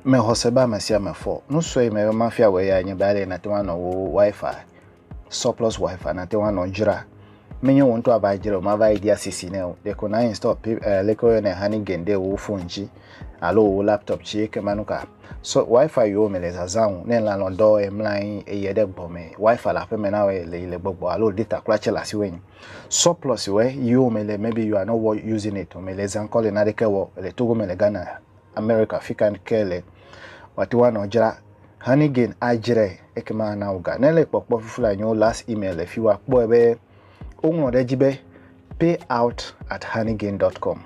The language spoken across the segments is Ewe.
Mexɔse be ame sia ame fɔ. Nu sue yi mebe mafia wòe yae nye be ale yi nàte ŋu anɔ wò Wi-Fi surplus wifi nate ŋu anɔ dzra menye wò ŋutɔ ava dzra o mava yi dia sisi ne o ɖeko na install pi eh, leke woyɔnɛ honey gain ɖe wò phone dzi alo wò laptop dzi eke manu ka so wifi yiwo me le zazã o ne lanɔ dɔ ye mla anyi eye ɖe gbɔ me wifi le aƒe me na wɔ le le gbɔgbɔ alo data kura tse le asi wɔ surplus wɔ yiwo me le maybe you are not using it o me le zã kɔ le na ɖeke wɔ le togo me le ghana Amerika fika ke le wate ŋu anɔ dzra Honeygain adzrae ekema ana wò ga. Ne le kpɔkpɔ fifi la nyo last email le fi wa kpɔe be woŋlɔ ɖe edzi be payout at honeygain dot com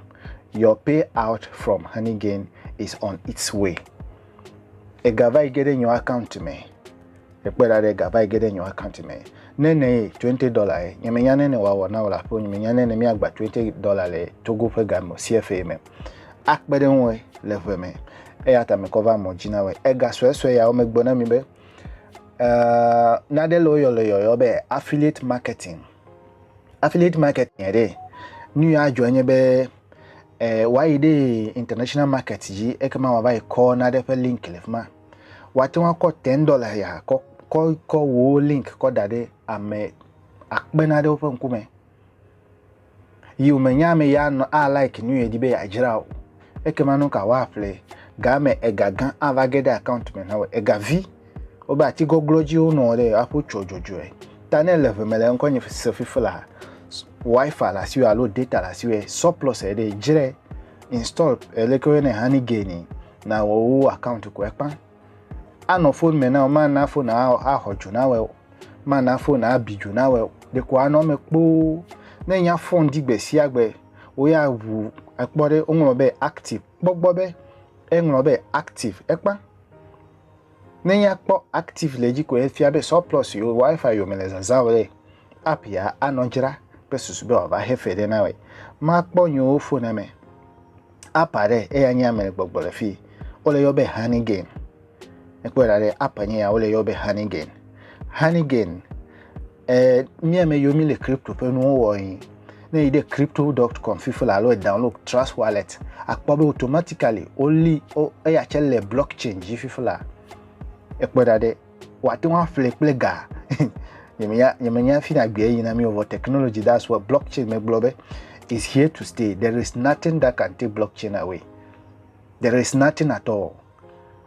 your payout from honeygain is on its way. Ega va yi ge ɖe nyo account me. Ekpɔe ɖa ɖe gava yi ge ɖe nye account me. Ne ne ye twenty dollar ye, nye me nya ne ne wa wɔ na wla ƒo nye me nya ne ne mi agba twenty dollar le Togo ƒe ga me CFA me. Akpe ɖe ŋue le ʋe me. Eya ta me kɔ va mɔ dzi na wɔ. Ega sɔe sɔe ya wo me gbɔ na mi be uh, na ɖe le wo yɔ le yɔyɔ be affiliate marketing. Affiliate marketing ɖe nu ya adzɔ nye be eh, wa yi ɖe international market dzi eke ma wa va yi kɔ na ɖe ƒe link le fima. Woate ŋu akɔ ten dɔla ya kɔ kɔ kɔ wò link kɔ da ɖe ame akpe na ɖe woƒe ŋkume. Yi wòmenya ame ya nɔ a like nu yedi be yeadzra o. Ekema nu ka woaƒle game ega gã ava ge ɖe account me na wò. Ega vi wobe ati gɔglɔ dzi wonɔ ɖe aƒo tsɔ dzɔdzɔe. Ta ne le ʋe me le ŋkɔ nye se fifi la wifi le asiwò alo data le asiwò surplus eɖe dzre install eleke woyɔnɛ honey gain. na wɔwo account ko ekpa anɔ phone me na mana phone axɔ dzo na wɛ mana phone abi dzo na wɛ ɖeko anɔ me kpoo ne nya phone di gbe sia gbe wo ya wu ekpɔ ɖe woŋlɔ be active kpɔgbɔ be eŋlɔ be active ekpa ne nya kpɔ active le dzi ko efia be surplus yo wifi yo me le zazã o ɖe app ya anɔ dzra kple susu be wòava hefe ɖe na wɛ makpɔ nyewo phone me App aɖe eya nye ame gbɔgbɔ le fi. Wole yɔ be Honey Gain. Ekpɔe ɖa ɖe app nye ya wole yɔ be Honey Gain. Honey Gain eh, mía me yiwo mi le crypto ƒe nuwo wɔ yi. Ne yi ɖe crypto.com fifi la alo download Trust Wallet akpɔ be automatically woli eya tse le blockchain dzi fifi la. Ekpɔe ɖa ɖe wòate ŋu aƒle kple ga nyemenya nyemenya fi na gbea yina mi wɔ technology that's what blockchain megblɔ be is here to stay there is nothing that can take blockchain away there is nothing at all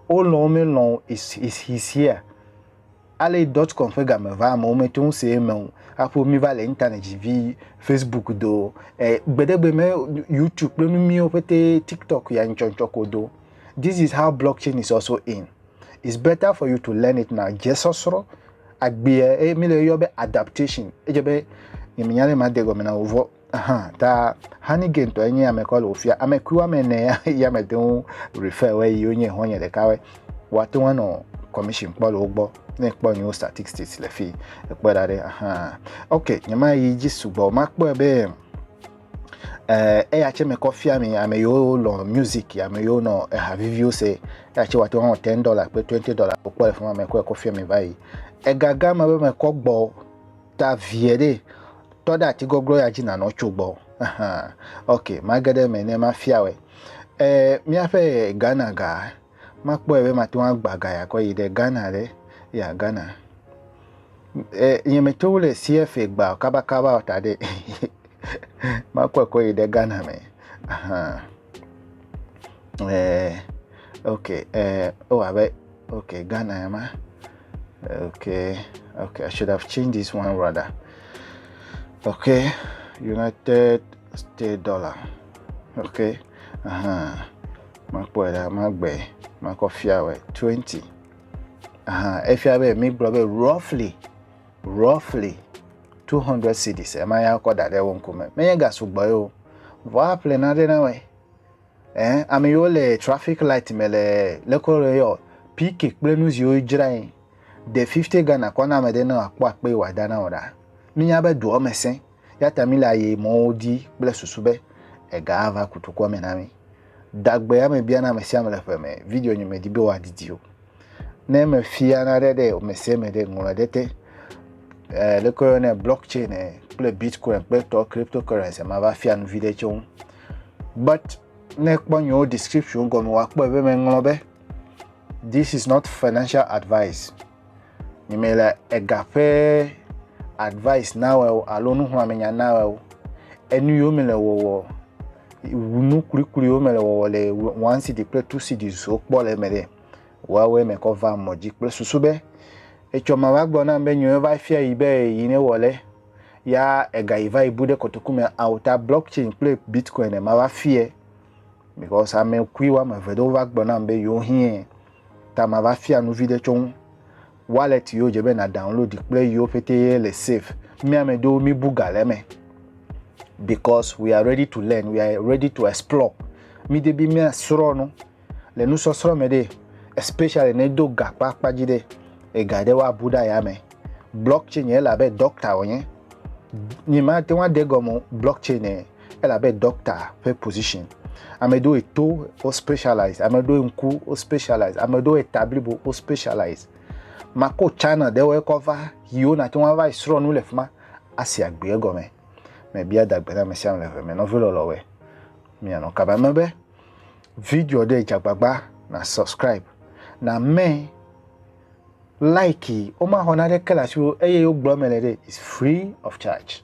wolɔ̃ melɔ̃ is is his here ale dot com ƒe game va amewo mete ŋu se eme o aƒo mi va le internet dzi vi facebook do eh, gbedegbe me youtube kple nu miwo ƒete tiktok ya ŋtsɔntsɔ ko do this is how blockchain is also in It's better for you to learn it now. Dzesɔsrɔ̃, agbea eye mi le yɔ be adaptation. Edze be nyemenya ne made gɔme na wovɔ. Aha, ta Hanige ŋutɔ enye ame kɔ le wofia. Ame kui woame ene ya mete ŋu refer wɔ yi wonye xɔ̃nye ɖeka wɔ. Woate ŋu anɔ commission kpɔ le wo gbɔ ne kpɔ nyewo statistics le fi ekpɔ da ɖe aha ok nyema yi dzi sugbɔ makpɔe be Eh, eya tse mekɔ fia mi ame yiwo lɔ music, ame yiwo nɔ eha viviwo se. Eya tse wòate ŋu awɔ ten dollar kple twenty dollar wokpɔ le fi ma mekɔe kɔ fia mi va yi. Egaga me be mekɔ gbɔ ta vie ɖe tɔ ɖe ati gɔglɔ ya dzi nanɔ tso gbɔ. Ahan, ok, mage ɖe eme ne mafia wɛ. Eh, míaƒe Ghana ga Makpɔe be mate ŋu agbã ga ya kɔ yi ɖe Ghana ɖe. Ya Ghana. E, nye me tso le CFA gba kaba kaba o ta ɖe. Makpɔe kɔ yi ɖe Ghana me. Ahan. Eh, ok, eh, oh, abe, ok, Ghana ya ma. Okay, okay, I should have changed this one rather. Okay, United States dollar. Okay, uh huh. Makpɔe ɖa, magbɔe, makɔ fia wɔ twenty. Aha, efia be mi gblɔ be roughly, roughly two hundred cities ema ya kɔ da ɖe wo ŋkume. Menye ga sugbɔ ye o. Vɔ aƒle na ɖe na wɔe. Eh, ame yiwo le traffic light me le lekɔ le yɔ PK kple nu ziwo dzra yi. De fifty Ghana kɔ na ame ɖe ne akpɔ akpe wɔ da na wɔ ɖa. Mi nya be doɔ me sẽ. Yata mi le aye mɔwo di kple susu be ega ava kutu kɔ me na mi. Dagbe ya mebia na ame sia ame le ƒe me. Video nye medi be wòadidi o. Ne mefia naɖe ɖe ame sia ame ɖe ŋlɔ ɖe te. Eh, le koyo ne blockchain eh, kple bitcoin kple tɔ cryptocurrency ma va fia nuvi ɖe tso ŋu. But ne kpɔ nyewo description gɔme wa kpɔ ebe me ŋlɔ be this is not financial advice. Nye me le ega ƒe advice na wɔ o alo nuxlɔ̃amenya na wɔ o. Enu yiwo me le wɔwɔ, nu kpukpui yiwo me le wɔwɔ le one city kple two city zo kpɔ le eme ɖe, woawoe me kɔ va mɔ dzi kple susu be etsɔ ma va gblɔ nam be nyɔe va fia yi be yi ne wɔ le ya ega yi va yi bu ɖe kotoku me ao ta blockchain kple bitcoin ma va fie because ame kui woame eve ɖewo va gblɔ nam be yewo hiɛ. Ta mava fia nu viɖe tso ŋu. Wallet yiwo dze be na download kple yiwo pete ye le safe. Mi ame ɖewo mi bu ga le eme. Because we are ready to learn, we are ready to explore. Mi de bi mia srɔ nu le nusɔsrɔ me ɖe, especially ne do ga kpa kpa dzi ɖe, ega ɖe wa bu ɖa ya me. Blockchain ye la be doctor wonye. Nyi ma te wa de gɔme blockchain e. elabe doctor ƒe position ame ɖewo to wo specialize ame ɖewo ŋku wo specialize ame ɖewo eta blibo wo specialize mako china ɖewo ekɔ va yiwo nate ŋu ava srɔ̃ nu le fi ma asi agbe egɔme mebia dagbe na ame sia ame le ʋe me nɔvi lɔlɔwoe mianɔ kaba me be video ɖe dzagbagba na subscribe na me like womaxɔ naneke le asiwò eye wogblɔ me le ɖe is free of charge